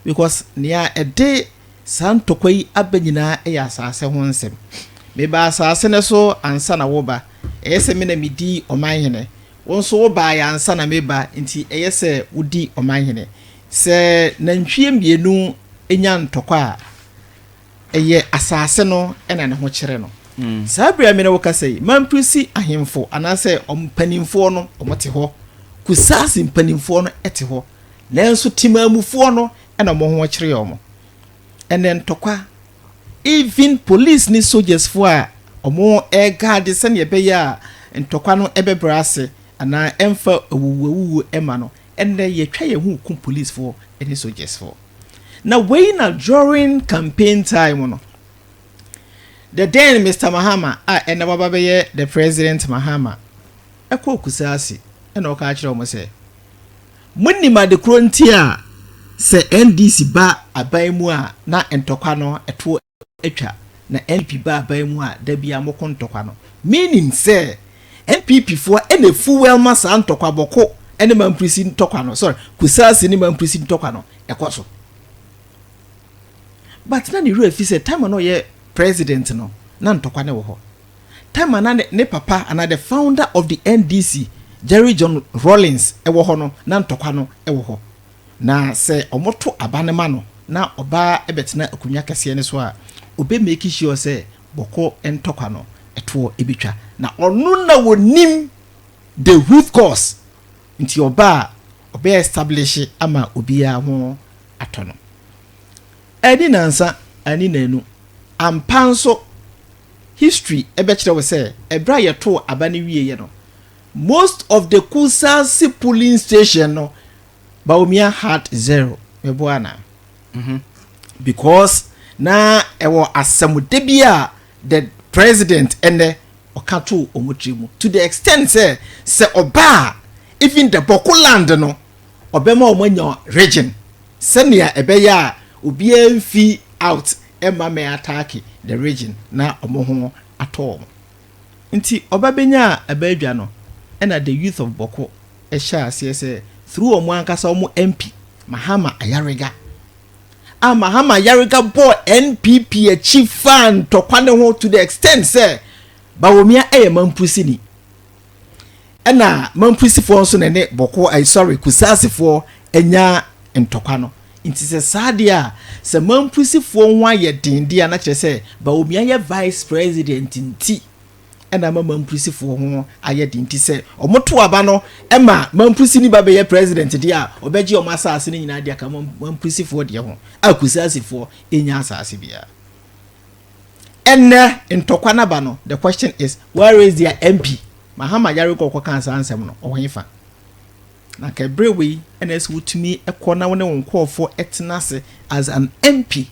Because nea ɛde saa ntɔkwa yi aba nyinaa yɛ asase ho nsɛm. Mebaa asase no so ansa na woreba. Ɛyɛ sɛ me na midi ɔmanhene. Wo nso wobaeɛ ansa na mereba, enti ɛyɛ sɛ wodi ɔmanhene. Sɛ nantwie mmienu nya ntɔkwa a, ɛyɛ asase no na ne ho kyerɛ no. Saa berɛ a me ne wo kasa yi, Mamprisi ahemfo anaasɛ wɔn mpanimfoɔ no, wɔte hɔ. Kusase mpanimfoɔ no te hɔ. nanso Temaamufoɔ no na wɔn ho kyere wɔn. Ɛnɛ ntɔkwa, even police ne soldiers foɔ a wɔreguarde sɛdeɛ ɛbɛyɛ a ntɔkwa no bɛbrɛ ase anaa ɛmfa awuwuawuwuo mma no, ɛnɛ yɛtwa yɛn ho rekum police foɔ ne soldiers foɔ. Na wei na during campaign time no, the then Mister Mahama a ɛnɛ waba bɛyɛ the President Mahama ɛkɔɔ Kusase ɛna ɔka kyerɛ wɔn sɛ, Monim ade koro nti a sɛ NDC ba aban mu a na ntɔkwa no to atwa, na NPP ba aban mu a da biara moko ntɔkwa no? Menim sɛ NPP foɔ na efuwɛl ma saa ntɔkwa Bɔko ne Mamprisi ntɔkwa no, sorry, Kusase ne Mamprisi ntɔkwa no kɔ so. But na ne werɛ fi sɛ time a na ɔyɛ President no na ntɔkwa no wɔ hɔ. Time a na ne papa anaa the founder of the NDC, Jerry John Rawlings wɔ hɔ no, na ntɔkwa no wɔ hɔ. Na sɛ wɔto aba no ma no na ɔbaa bɛtena akonnwa kɛseɛ no so a, ɔbɛ make sure sɛ bɔkɔ ntɔkwa no toɔ bɛtwa. Na ɔno na ɔnim the root cause nti ɔba a ɔbɛ establish ama obiara ho atɔ no. Anni nansa, anni nanu. Ampa nso, History bɛkyerɛ wo sɛ ɛberɛ a yɛtoo aba no wieɛ no, most of the Kusase polling station no, Bawumia had zero. Meboa anaa? Mhm. Because na ɛwɔ asɛmode bi a the president ɛnɛ ɔka too wɔn tiri mu to the extent sɛ sɛ ɔba a even the Bɔko land no ɔbɛma wɔn anya region sɛnea ɛbɛyɛ a obiara mfi out mma mɛ ataake the region na ɔmo ho atɔ ɔmo. Nti ɔba benyaa ɛba adwa no ɛna the youth of Bɔko ɛhyɛɛ aseɛ sɛ through ɔmo ankasa ɔmo MP Mahama Ayariga a Mahama Ayariga bɔɔ NPP akyi faa ntɔkwa no ho to the extent sɛ Bawomia ɛyɛ Mampusini. ɛna Mamprisifoɔ nso na ɛne Bɔkɔ ay sorry Kusaasifoɔ anya ntɔkwa no nti sɛ saa deɛ a sɛ Mamprisifoɔ ho ayɛ den deɛ a na kyerɛ sɛ Bawumia yɛ Vice President nti ɛna ama Mamprisifoɔ ho ayɛ den nti sɛ wɔn to aba no ɛma Mamprisini ba bɛyɛ President deɛ a ɔbɛgye wɔn asaase no nyinaa de aka Mamprisifoɔ deɛ ho a Kusaasifoɔ enya asaase biara. Ɛnnɛ ntɔkwa no aba no, the question is, where is their MP? Mahama yare kɔ kɔkaa saa nsɛm no, ɔwɔ hefa? Na nka ɛberɛ wei ɛna ɛsɛ wotumi kɔ na wo ne wo nkurɔfoɔ ɛtena ase as an MP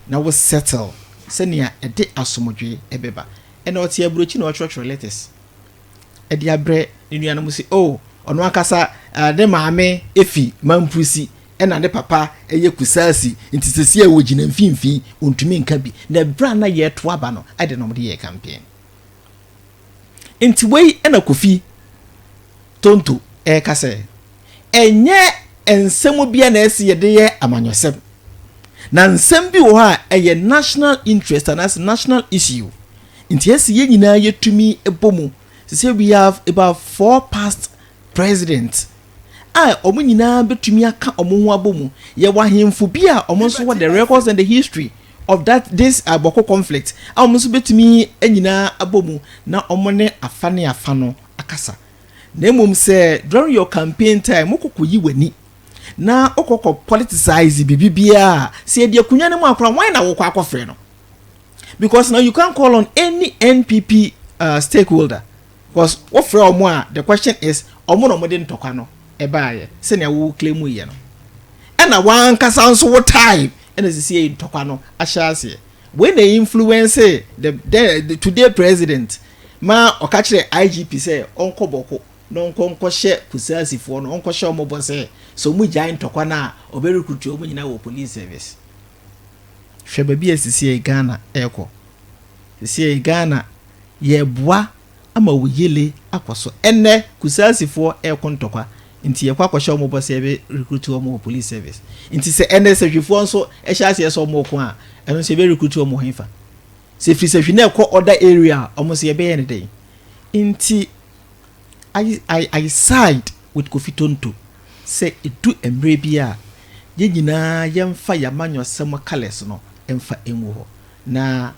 na wo settle sɛnea ɛde asomdwee ɛbɛba. Ɛna ɔte aburokyi na ɔtwerɛtwerɛ letters. de abrɛ ne nuanom sɛ, oh, ɔno ankasa uh, ne maame efi Mampusi ɛna ne papa ɛyɛ Kusasi nti sɛsi a wɔgyina mfimfini ɔntumi nka bi na ɛberɛ a na yɛreto aba no ɛde na wɔde yɛ campaign nti wei ɛna Kofi Tonto ɛreka sɛ ɛnyɛ nsɛm bi a na ɛsi yɛde yɛ amanyɔsɛm na nsɛm bi wɔ hɔ a ɛyɛ national interest anaasɛ national issue Nti ɛsɛ yɛn nyinaa yɛtumi bɔ mu. Te sɛ we have about four past president a wɔn nyinaa bɛtumi aka wɔn ho abɔ mu. Yɛwɔ ahemfo bi a wɔn nso wɔ the records and the history of that this uh, Bɔko conflict a wɔn nso bɛtumi nyinaa abɔ mu na wɔn ne afa ne afa no akasa. Na mmom sɛ during your campaign time wokɔkɔ yi w'ani na wokɔkɔ politicize biribi biara a sɛ yɛde akonnwa no mu akora wɔn na wokɔ akɔfrɛ no. because now you can't call on any npp uh, stakeholder because wofrɛ wɔn a the question is wɔn na wɔde ntɔkwa no ɛbaayɛ sɛnea wo claim yɛ no ɛna wankasa nso wo time ɛna sisi yɛ ntɔkwa no ahyɛ aseɛ wei na influence the, the, the today president ma ɔka kyerɛ igp sɛ ɔnkɔ bɔko na ɔnkɔ nkɔhyɛ kusaasifoɔ no ɔnkɔhyɛ wɔn bɔ sɛ sɛ wɔn gyae ntɔkwa no a ɔbɛrekrutu wɔn nyinaa wɔ police service Hwɛ baabi a sisiei Ghana rekɔ. Sisiei Ghana yɛreboa ama wo yele akɔ so. Ɛnnɛ Kusaasifoɔ reko ntɔkwa nti yɛkɔ akɔhyɛ wɔn bɔ sɛ yɛbɛ recruit wɔn wɔ police service. Nti sɛ ɛnnɛ Sahwifoɔ nso hyɛ aseɛ sɛ wɔn reko a, ɛno nso yɛbɛ recruit wɔn wɔ hefa? Sɛ ɛfiri Sahwi na ɛkɔ other area a, wɔn nso yɛbɛyɛ no dɛn? Nti I, I, I side with Kofi Tonto. Sɛ edu mmere bi a, yɛn nyinaa yɛmfa yɛn amanyɔsɛm kalɛs no mfa ngu hɔ. Na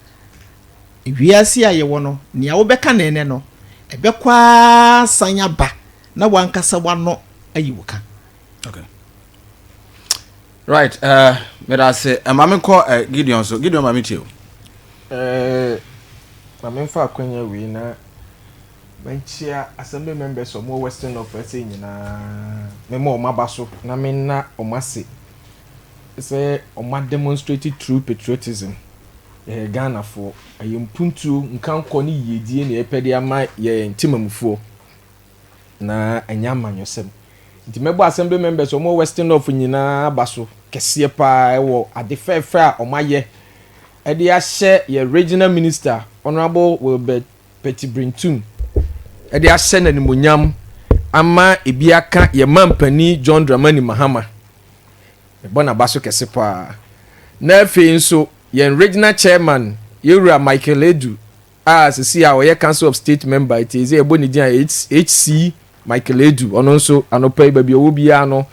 wiase a yɛwɔ no, nea wobɛka no nnɛ no, ɛbɛkɔ ara asan aba na w'ankasa w'ano ayi wo ka. Okay. Right, uh, meda ase. Eh, ma me kɔ eh, Gideon so. Gideon ma me tie o. Eh, ma me mfa akwanya wei na Menkyea Assembly members a wɔwɔ Western North West nyinaa, mema wɔn aba so na menna wɔn ase sɛ wɔn a demonstrate true patriotism. Yɛyɛ Ghanafoɔ, ɛyɛ mpuntuo, nkankɔ ne yiedie na yɛpɛ de ama yɛn temamufoɔ na ɛnyɛ amanyɔsɛm. Nti mɛbɔ Assembly members a wɔwɔ Western North nyinaa aba so kɛseɛ paa wɔ ade fɛɛfɛ a wɔayɛ de ahyɛ yɛn Regional Minister Honourable Wilbert Petibrentum de ahyɛ no animuonyam ama ebi aka yɛn mampanin John Dramani Mahama. Mebɔ n'aba so kɛse paa. Na afei nso yɛn regional chairman yɛwura Michael Edu a sisi a ɔyɛ Council of State member eti eze yɛbɔ ne din a HC Michael Edu ɔno nso anɔpa yi baabi ɔwɔ biara no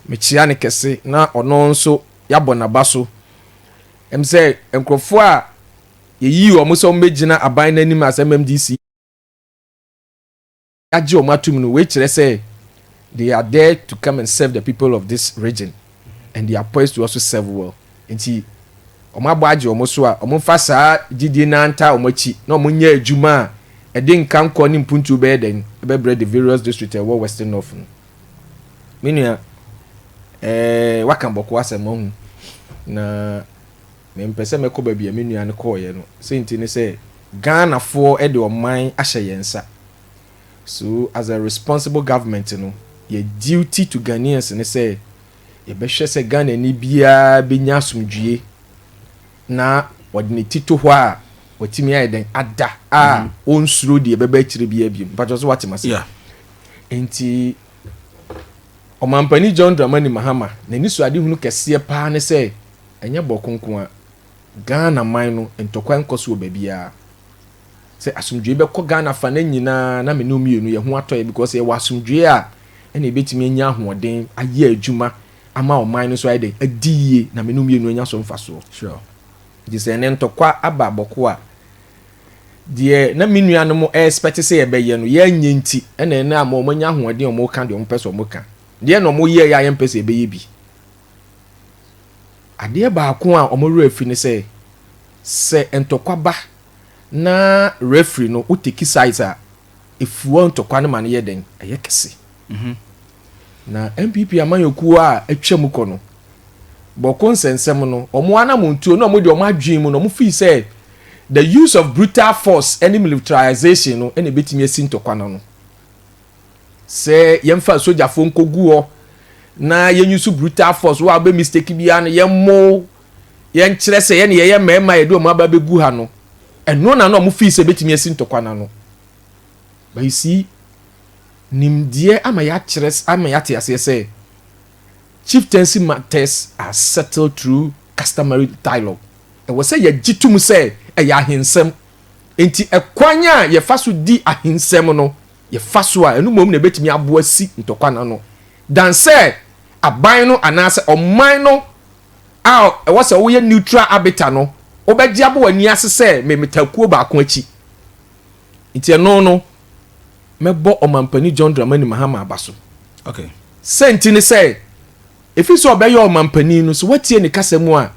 mekyia ne kɛse na ɔno nso yɛabɔ n'aba so. Ɛm sɛ nkurɔfoɔ a Yɛyii wɔn sɛ wɔmmɛgyina aban no anim as MMDC agye wɔn atom no, wei kyerɛ sɛ they are there to come and serve the people of this region and they are poised to also serve well. Nti wɔn abɔ agye wɔn so a wɔn mfa saa gyidie no antaa wɔn akyi na wɔn nyɛ adwuma a ɛde nkankɔ ne mpuntuo bɛyɛ dɛn ɛbɛbrɛ the various district ɛwɔ Western North no. Me nua, eh, waka bɔkɔ asɛm, wahu na Mempɛ sɛ mɛkɔ baabi a me nua no kɔeɛ no. Senti ne sɛ, Ghanafoɔ de ɔman ahyɛ yɛn nsa. So as a responsible government no, yɛ duty to Ghanaians ne sɛ yɛbɛhwɛ sɛ Ghanani biara bɛnya asomdwoeɛ na ɔde ne ti to hɔ a watumi ayɛ dɛn ada a mhm. ɔnsuro deɛ ɛbɛba akyire biara biom. Mpakyɛ so watem ase. Yeah. Nti ɔmampani John Dramani Mahama n'ani so adehunu kɛseɛ paa ne sɛ Ɛnyɛ bɔko nko a, Ghana man no ntɔkwa nkɔ so wɔ baabiara. Sɛ asomdwoe bɛkɔ Ghana fa no nyinaa na me ne wo mmienu yɛn ho atɔ yɛn because yɛwɔ asomdwoe a ɛna yɛbɛtumi anya ahoɔden ayɛ adwuma ama ɔman no nso ayɛ dɛn? Adi yie na me ne wo mmienu anya so mfasoɔ. Sure. Nti sɛ ɛnɛ ntɔkwa aba bɔko a, deɛ na me nuanom ɛrespɛte sɛ yɛbɛyɛ no yɛanyɛ nti ɛna ɛnɛ ama wɔanya ahoɔden a wɔka deɛ wɔpɛ sɛ wɔka. Deɛn na wɔyɛeɛ a yɛmpɛ sɛ yɛbɛyɛ bi? Adeɛ baako a wɔn werɛ afi ne sɛ, sɛ ntɔkwa ba na referee no wo take sides a, ɛfua ntɔkwa no ma no yɛ dɛn? Ɛyɛ kɛse. Mhm. Na NPP amanyɔkuo a atwa mu kɔ no, bɔko nsɛnsɛm no, wɔn anamontuo no, wɔn de wɔn adwene mu no, wɔn fii sɛ the use of brutal force ne militarization no na ɛbɛtumi asi ntɔkwa no ano. sɛ yɛmfa sogyafoɔ nkɔgu hɔ na yɛnyusu brutal force wo a wobɛ mistake biara no yɛmmo yɛnkyerɛ sɛ yɛne yɛyɛ mmarima yɛde wɔn aba bɛgu ha no ɛno na na wɔn fii sɛ bɛtumi asi ntɔkwa no ano but you see nimdeɛ ama yɛakyerɛ ama yɛate aseɛ sɛ chieftaincy matters are settled through customary dialogue ɛwɔ sɛ yɛgye tom sɛ ɛyɛ ahensɛm nti ɛkwan a yɛfa so di ahensɛm no yɛfa so a, ɛno mmom na ebetumi aboa asi ntɔkwa no ano. Dan sɛ aban no anaasɛ ɔman no a ɛwɔ sɛ woyɛ neutral arbiter no, wobɛgye abɔ w'ani ase sɛ memeta kuo baako akyi. Nti ɛno no, mɛbɔ Ɔmampanin John Dramani Mahama aba so. Okay. Sɛ nti ne sɛ, ɛfiri sɛ ɔbɛyɛ ɔmampanin no, sɛ woatie ne kasa mu a,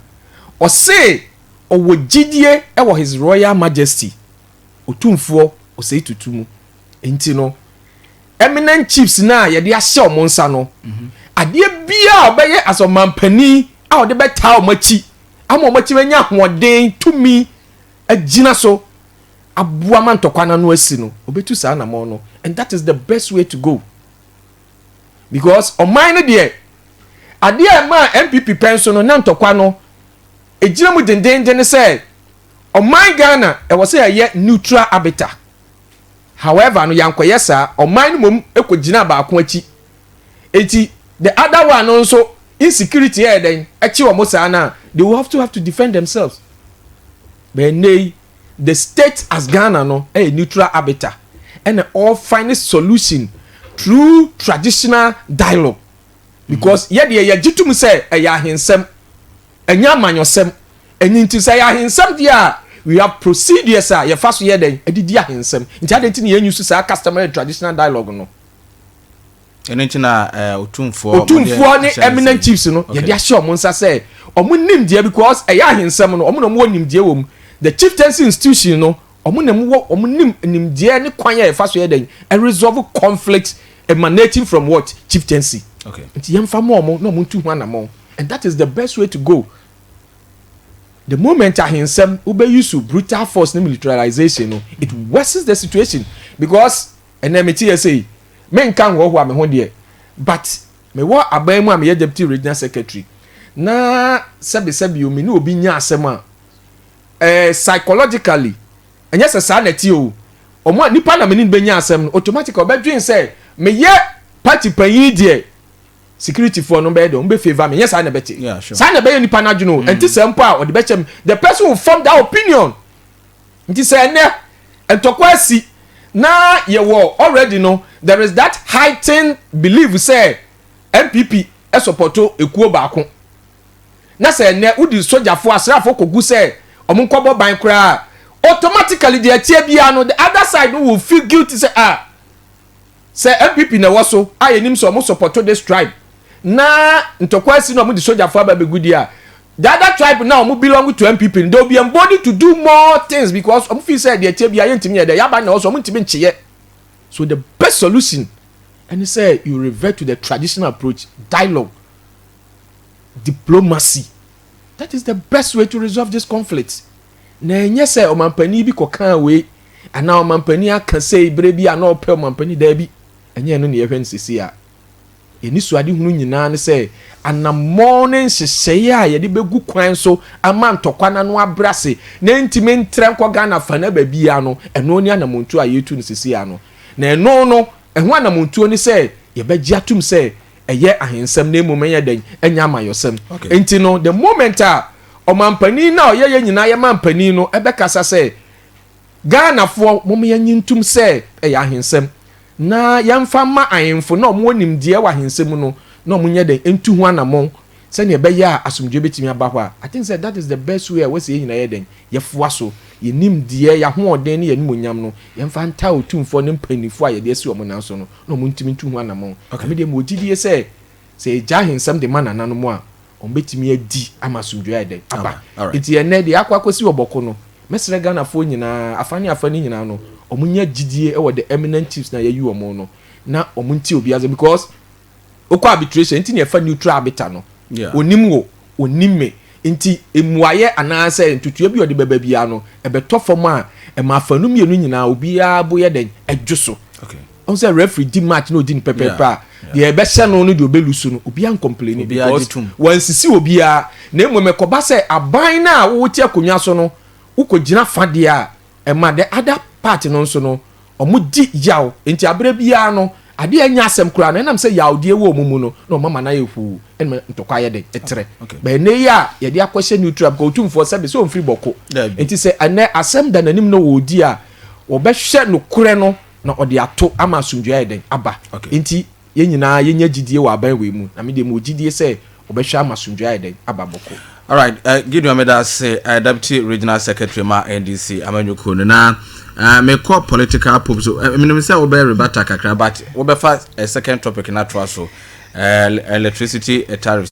ɔse ɔwɔ gyidie wɔ His Royal Majesty, Otumfoɔ Osei Tutu mu nti no, eminent chiefs no a yɛde ahyɛ wɔn nsa no, mhm. adeɛ biara a ɔbɛyɛ as ɔmanpanin a ɔde bɛtaa wɔn akyi ama wɔn atumi anya ahoɔden tumi agyina so aboa ma ntɔkwa no ano asi no ɔbɛtu saa anamɔ no and that is the best way to go because ɔman no deɛ adeɛ a ɛma npp pɛn so no na ntɔkwa no ɛgyina mu dendenden ne sɛ Ɔman Ghana ɛwɔ sɛ yɛyɛ neutral arbiter, however no yɛankɔyɛ saa, ɔman no mmom kɔgyinaa baako akyi, nti the other one no nso insecurity yɛ dɛn kye wɔn saa no a, they will have to have to defend themselves. But ɛnnɛ yi the state as Ghana no yɛ neutral arbiter ɛna ɔrefind solution through traditional dialogue because yɛdeɛ yɛgye tom sɛ ɛyɛ ahensɛm, ɛnyɛ amanyɔsɛm. Ɛno nti sɛ ɛyɛ ahensɛm deɛ a, we have procedures a yɛfa so yɛ dɛn de di ahensɛm. Nti adɛn nti na yɛn use saa customary and traditional dialogue no? Ɛno nti na uh, otumfoɔ otumfoɔ ne eminent chiefs no yɛde ahyɛ wɔn nsa sɛ wɔn nimdeɛ because ɛyɛ ahensɛm no wɔn na wɔn wɔ nimdeɛ wɔ mu the chieftaincy institution no wɔn na wɔwɔ wɔn nim nimdeɛ ne kwan a yɛfa so yɛ dɛn ɛresolve conflict emanating from what chieftaincy nti yɛn fa mɔ wɔn na wɔn tu ho anamɔ and that is the best way to go. The moment ahensɛm wobɛ use brutal force ne militarization no it worsens the situation because ɛnɛ mete yɛ sei me nka nhɔhoa me ho deɛ but me wɔ aban mu a meyɛ deputy regional secretary na sɛbe sɛbe o me ne obi nya asɛm a eh, psychologically ɛnyɛ sɛ saa na ɛte o ɔmo a nipa na me ne no bɛnya asɛm no automatically ɔbɛdwen sɛ meyɛ party panyin deɛ security foɔ no bɛyɛ dɛ wɔn bɛ favour me nyɛ saa na ɛbɛte yeah, sure. saa na ɛbɛyɛ nipa n'adwene o mm. ɛnti sɛ mpo a ɔde bɛkyɛ mu the person will form that opinion nti sɛ ɛnɛ ntɔkwa asi na yɛwɔ already no there is that heightened belief sɛ npp ɛsɔpɔtɔ ekuo baako na sɛ ɛnɛ wodi sogyafo asraafo kogu sɛ wɔn nkɔbɔ ban koraa automatically deɛ ɛteɛ biara no the other side no will feel guilty sɛ ah. Sɛ NPP na ɛwɔ so a yɛnim sɛ wɔn sɔpɔto this tribe na ntɔkwa asi na wɔn de sogyafo aba bɛgu di a, the other tribe na wɔn belong to NPP no they will be emboldened to do more things because wɔn feel sɛ deɛ ɛteɛ bia yɛntumi yɛ dɛ yaban na ɛwɔ so wɔn ntumi nkyeyɛ. So the best solution ɛne sɛ you revert to the traditional approach dialogue diplomacy that is the best way to resolve this conflict. na ɛnyɛ sɛ ɔmampanin bi kɔkaa wei anaa ɔmampanin aka sei berɛ bi a na ɔpɛ ɔmampanin daabi ɛnyɛ ɛno na yɛhwɛ no sisi a yɛni so adehunu nyinaa ne sɛ anammɔn ne nhyehyɛeɛ a yɛde bɛgu kwan so ama ntɔkwa no ano abrɛ ase na ɛntumi ntrɛ nkɔ ghana fa na baabiara no ɛno ne anammɔntuo a yɛtu no sisi a no na ɛno no ɛho anammɔntuo ne sɛ yɛbɛgye atom sɛ ɛyɛ ahensɛm na mmom ɛyɛ dɛn ɛnyɛ amayɔsɛm okay. nti no the moment a ɔmampanin na ɔyɛ yɛ nyinaa yɛ mampanin no ɛbɛkasa sɛ ghanafoɔ mom yɛnyi ntum sɛ ɛyɛ ahensɛm na yɛmfa mma ahemfo na ɔmo nimdeɛ wɔ ahensɛm mu no na ɔmo nyɛ dɛn ntu ho anamɔn sɛnea ɛbɛyɛ a asomdwoe bɛtumi aba hɔ a i think sɛ that is the best way a wɔsɛ yɛn nyinaa yɛ dɛn yɛfoa so yɛnim deɛ yɛahoɔden ne yɛnimonyam no yɛmfa ntaa otumfoɔ ne mpanimfoɔ a yɛde asi wɔn nan so no na wɔntumi ntu ho anammɔn. Na me deɛ mewɔ gyidie sɛ, sɛ yɛgya ahensɛm de ma nananom a, wɔbɛtumi adi ama asomdwoeɛ ayɛ dɛn? aba. Enti ɛnnɛ, deɛ akɔ akɔsi Ɔbɔko no, mɛsrɛ Ghanafoɔ nyinaa, afa ne afa no nyinaa no, wɔnya gyidie wɔ the eminent chiefs no a yɛayi wɔn no, na wɔntie obiara asɛm, because wokɔ arbitration, nti na yɛfa neutral arbiter no, ɔnim wo. ɔnim me. Enti mmuaeɛ anaasɛ ntotoeɛ bi a ɔde bɛba biara no, ɛbɛtɔ fam a, ɛma afanu mmienu nyinaa obiara bo yɛ dɛn? Ɛdwo so. Okay. Ɔn sɛ referee di match na odi no pɛpɛɛpɛ a, deɛ ɛbɛhyɛ no ne deɛ ɔbɛlu so no, obiara nkɔmpleni because wansisi obiara. Na mmom ɛkɔba sɛ aban no a wote akonnwa so no, wokɔgyina fa deɛ a, Ɛma the other part no nso no, wɔdi yaw. Enti aberɛ biara no, adeɛ a ɛnyɛ asɛm koraa no, ɛnam sɛ yawdeɛ wɔ wɔn mu no, na wɔama no ayɛ huu, na ɛma ntɔkwa yɛ dɛn? Ɛtrɛ. But ɛnnɛ yi a yɛde akɔhyɛ neutral, because Otumfoɔ sɛbe sɛ ɔmfiri bɔko. Enti sɛ ɛnnɛ asɛm da n'anim na ɔredi a, wɔbɛhwɛ nokorɛ no na wɔde ato ama asomdwoeɛ ayɛ dɛn? Aba. Enti yɛn nyinaa yɛnya gyidie wɔ aban wei mu, na me deɛ mewɔ gyidie sɛ wɔbɛhwɛ ama asomdwoeɛ ayɛ dɛn? aba bɔkɔɔ. Alright, Gideon meda ase, Deputy Regional Secretary ma NDC amanyɔkuo no, na mekɔ political pope so, menim sɛ wobɛ rebata kakra but wobɛfa second topic no atoa so, electricity tariffs.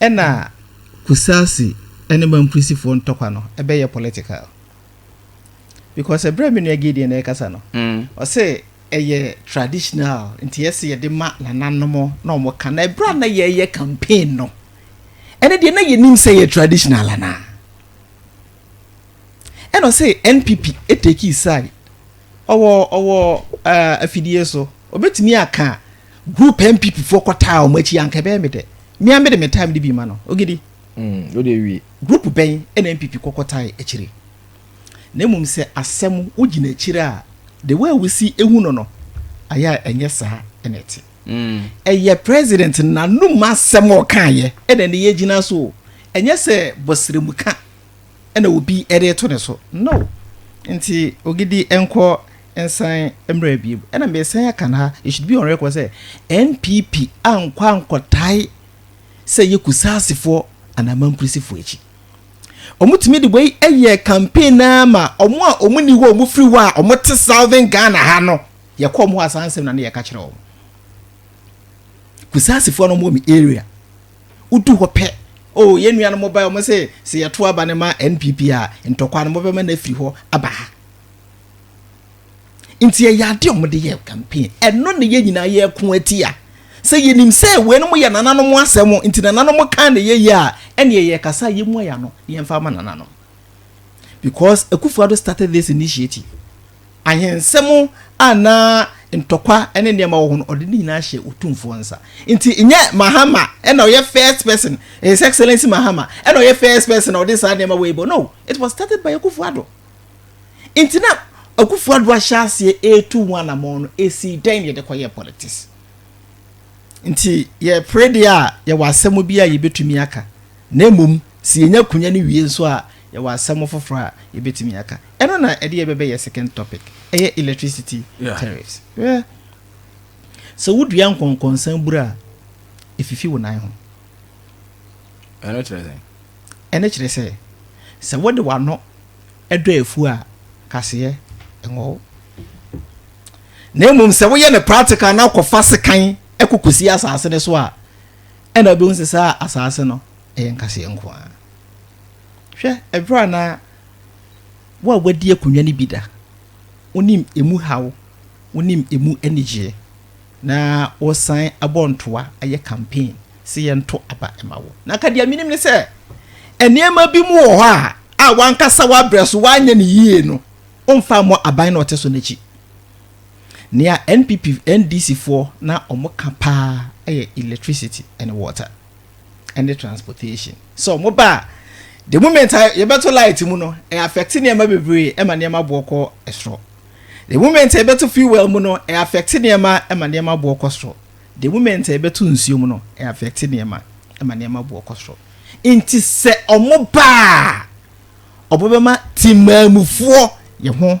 Ɛna Kusasi ne Mamprisifoɔ ntɔkwa no bɛyɛ political because ɛberɛ a me nua Gideon ɛrekasa no, ɔse ɛyɛ traditional nti ɛse yɛde ma nananom na wɔn ka na ɛberɛ a na yɛreyɛ campaign no, ɛno deɛ na yɛnim sɛ ɛyɛ traditional anaa? Ɛna ɔse NPP ɛtake side, ɔwɔ ɔwɔ ɛɛ afidie so, ɔbɛtumi aka. Group NPP foɔ kɔ taa wɔn akyi anka ɛbɛyɛ me dɛ. Me ara me de me time no bi ma no. Ogidi. Mm, wode awie. Group bɛn ɛna NPP kɔkɔ tae akyire? Na mmom sɛ asɛm wo gyina akyire a the way wosi ehu no no ayɛ a ɛnyɛ saa ɛna ɛte. Mm. Ɛyɛ president n'anum asɛm a ɔkaeɛ ɛna ɛne yɛgyina so o. Ɛnyɛ sɛ bɔsrɛmuka. na obi de reto ne so. No. Nti Ogidi nkɔ nsan mmra biem. Ɛna mesan aka no ha, it should be on record sɛ NPP ankɔ ankɔtae sɛ ɛyɛ Kusaasifoɔ anaa Amankuresifoɔ akyi. Wɔtumi de wei yɛ campaign no ara ma wɔn a wɔnni hɔ a wɔfiri hɔ a wɔte Southern Ghana ha no, yɛkɔ wɔn hɔ a saa nsɛm na ne yɛka kyerɛ wɔn. Kusaasifoɔ no wɔn area. Wodu hɔ pɛ, oh, yɛn nuanom bae, wɔse, Sɛ yɛtow aba no ma NPP a, ntɔkwaw no, mobɛma no afiri hɔ aba ha. Enti ɛyɛ ade a wɔde yɛ campaign. Ɛno na yɛn nyinaa yɛko atia. Sɛ yɛnim sɛ weinom yɛ nananom asɛm, nti nananom kan na yɛyɛ a, ɛneɛ yɛkasa a yɛmmua yɛn ano na yɛmfa ama nananom. Because Akufo-Addo started this initiative. Ahensɛm a na ntɔkwa ne nneɛma wɔ ho no, ɔde ne nyinaa hyɛɛ Otumfoɔ nsa. Enti nyɛ Mahama na ɔyɛ first person, His Excellency Mahama na ɔyɛ first person a ɔde saa nneɛma wei bɔ. No, it was started by Akufo-Addo. Enti na Akufo-Addo ahyɛ aseɛ retu ho anammɔn no, ɛsii dɛn na yɛde kɔyɛɛ politics? Nti yɛpere deɛ a, yɛwɔ asɛm bi a yɛbɛtumi aka. Na mmom, sɛ yenya konya no wie nso a, yɛwɔ asɛm foforo a yebetumi aka. Ɛno na ɛde yɛn bɛbɛ yɛn second topic, ɛyɛ electricity tariffs. Hwɛ, sɛ wudua nkɔnkɔnsa bura a, efifi wo nan ho. Ɛno kyerɛ sɛn? Ɛno kyerɛ sɛ, sɛ wode w'ano dɔ afuw a, kaseɛ nwo wo. Na mmom, sɛ woyɛ no practical na kɔfa sekan kɔ kosi asase no so a, Ɛnna wobehu sɛ saa asaase no yɛ nkaseɛ nko ara. Hwɛ, ɛberɛ a na wo a woadi akonnwa no bi da, wonim emu haw, wonim emu anigyeɛ, na woresan abɔ ntoa ayɛ campaign sɛ yɛnto aba mma wo. Na anka deɛ menim ne sɛ, nneɛma bi mu wɔ hɔ a, a w'ankasa w'abrɛ so, woanyɛ no yie no, womfa mmɔ aban no a ɔte so no akyi. Nea NPP, NDC foɔ na wɔn ka paa yɛ electricity and water ɛne transportation. Sɛ wɔn ba a, the moment a yɛbɛto light mu no, ɛ affect nneɛma bebree ɛma nneɛma boɔ kɔ ɛsoro. The moment a yɛbɛto fuel mu no, ɛ affect nneɛma ɛma nneɛma boɔ kɔ soro. The moment a yɛbɛto nsuo mu no, ɛ affect nneɛma ɛma nneɛma boɔ kɔ soro. Nti sɛ wɔn ba a, wɔbɛma temaamufoɔ yɛ ho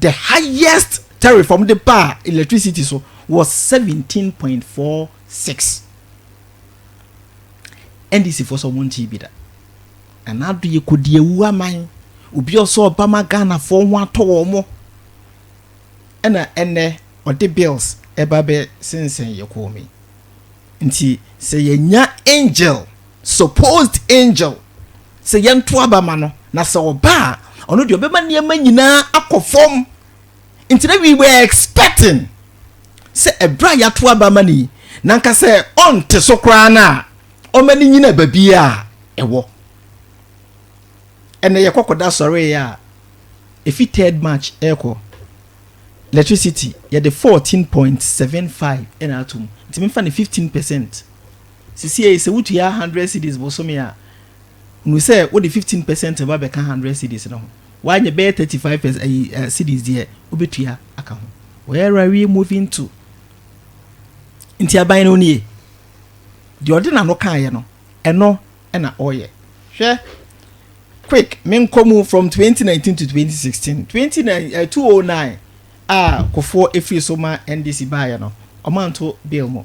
the highest tariff wɔn de baa electricity so was seventeen point four six ndc fo sɛ wɔn nti bi da ɛna ado yɛ kodi ewu aman obi ɔsɛ ɔbama ghana fo ho atɔ wɔn mo ɛna ɛnɛ ɔde bills ɛba bɛ sensɛn yɛ kɔɔ mi nti sɛ yɛnya angel supposed angel sɛ yɛnto aba ma no, na sɛ ɔba a, ɔno deɛ ɔbɛma nneɛma nyinaa akɔ fam. Nti na we were expecting sɛ ɛberɛ a yɛato aba ma no yi, na nka sɛ ɔnte so koraa no a, ɔma no nyina baabiara a ɛwɔ. Ɛnna yɛkɔkɔda sɔreeɛ a, ɛfi third march ɛrekɔ electricity yɛde fourteen point seven five ɛna atom nti memfa no fifteen percent. Sesiei sɛ wutua hundred cedis bosome a, hunu sɛ wode fifteen pɛsɛnt reba abɛka hundred cedis no ho. Woanyɛ bɛyɛ thirty five pɛs ayi eh cedis deɛ wobetua aka ho. Where are we moving to? Nti aban no nie. Deɛ ɔde n'ano kaeɛ no, ɛno na ɔreyɛ. Hwɛ Quick menkɔ mu from twenty nineteen to twenty sixteen, twenty nine eh two oh nine a Kufuor efiri so ma NDC baeɛ no, wɔanto bill mu.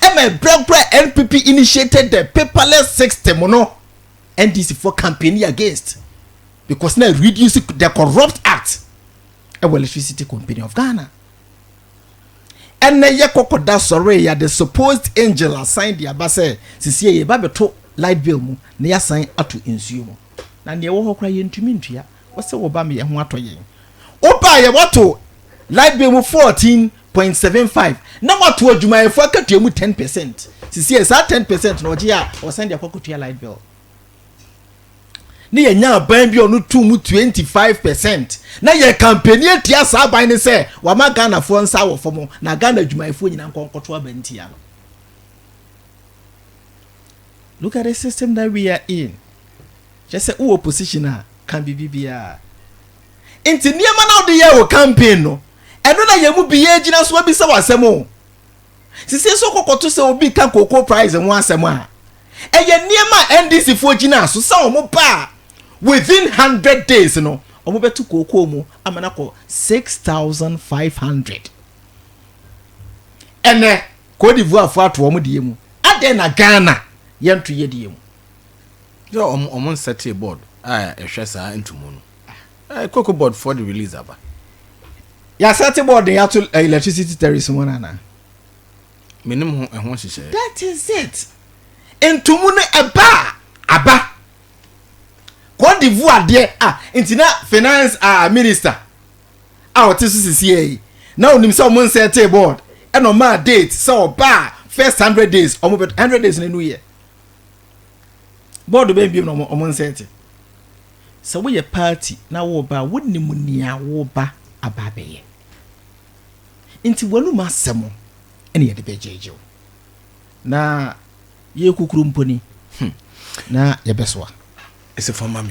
ɛma ɛberɛ koro a NPP initiated the paperless system no NDC foɔ campaign against because na reduce the corrupt act ɛwɔ electricity company of Ghana ɛnɛ yɛ kɔkɔda sɔre ya the supposed angel asan de aba sɛ sisi yɛ ba bɛto light bill mu na yɛasan ato nsuo mu na nea ɛwɔ hɔ koraa yɛntumi ntua Wose woba me yɛho atɔ yɛn. Woba yɛ wato light bill mu fourteen point seven five na wato adwumayɛfoɔ akatua mu ten percent sisi yɛ saa ten percent na ɔgye a ɔsan de akɔ akɔtua light bill ne yɛnya aban bi a ɔno tu mu twenty five percent na yɛ kampani atia saa aban ne sɛ wama ghanafoɔ nsa wɔ fam na ghana adwumayɛfoɔ nyinaa nkɔnkɔto aba ntia no look at the system that we are in Kyerɛ sɛ wowɔ position a, ka biribi biara. Nti nneɛma no a wode yɛɛ wo campaign no, ɛno na yɛn mu biara gyina so abisa wo asɛm o. Sisi nso kɔkɔto sɛ obi ka cocoa price ho asɛm a, ɛyɛ nneɛma a NDC foɔ gyinaa so sɛ wɔn ba a within hundred days no wɔn bɛto cocoa mu ama no akɔ six thousand five hundred. Ɛnɛ Cote d'Ivoire foɔ ato wɔn deɛ mu, adɛn na Ghana yɛnto yɛ deɛ mu? Yo ɔmo ɔmo nsɛtee board a ɛhwɛ saa ntumu no. Ɛɛ koko board foɔ de release aba. Yasɛte board de yato eh, electricity terrace ho no anaa? Menim ho ɛho nhyehyɛɛ. That is it. Ntumu no ɛba a. Aba. Cote d'Ivoire deɛ ah nti na finance ah minister a ɔte so sisi yɛ yi na onim sɛ ɔmo nsɛtee board ɛna ɔmaa date sɛ ɔba a first hundred days ɔmo bɛ hundred days na enu yɛ. bɔɔdo bɛn biom na wɔn wɔn nsa te sɛ woyɛ party na wɔba a wonim nea wɔba aba abɛyɛ nti wɔnum asɛm ɛna yɛde bɛgyegye wo na yɛ kukuru mponi hmm. na yɛbɛsoa ɛsɛ fama me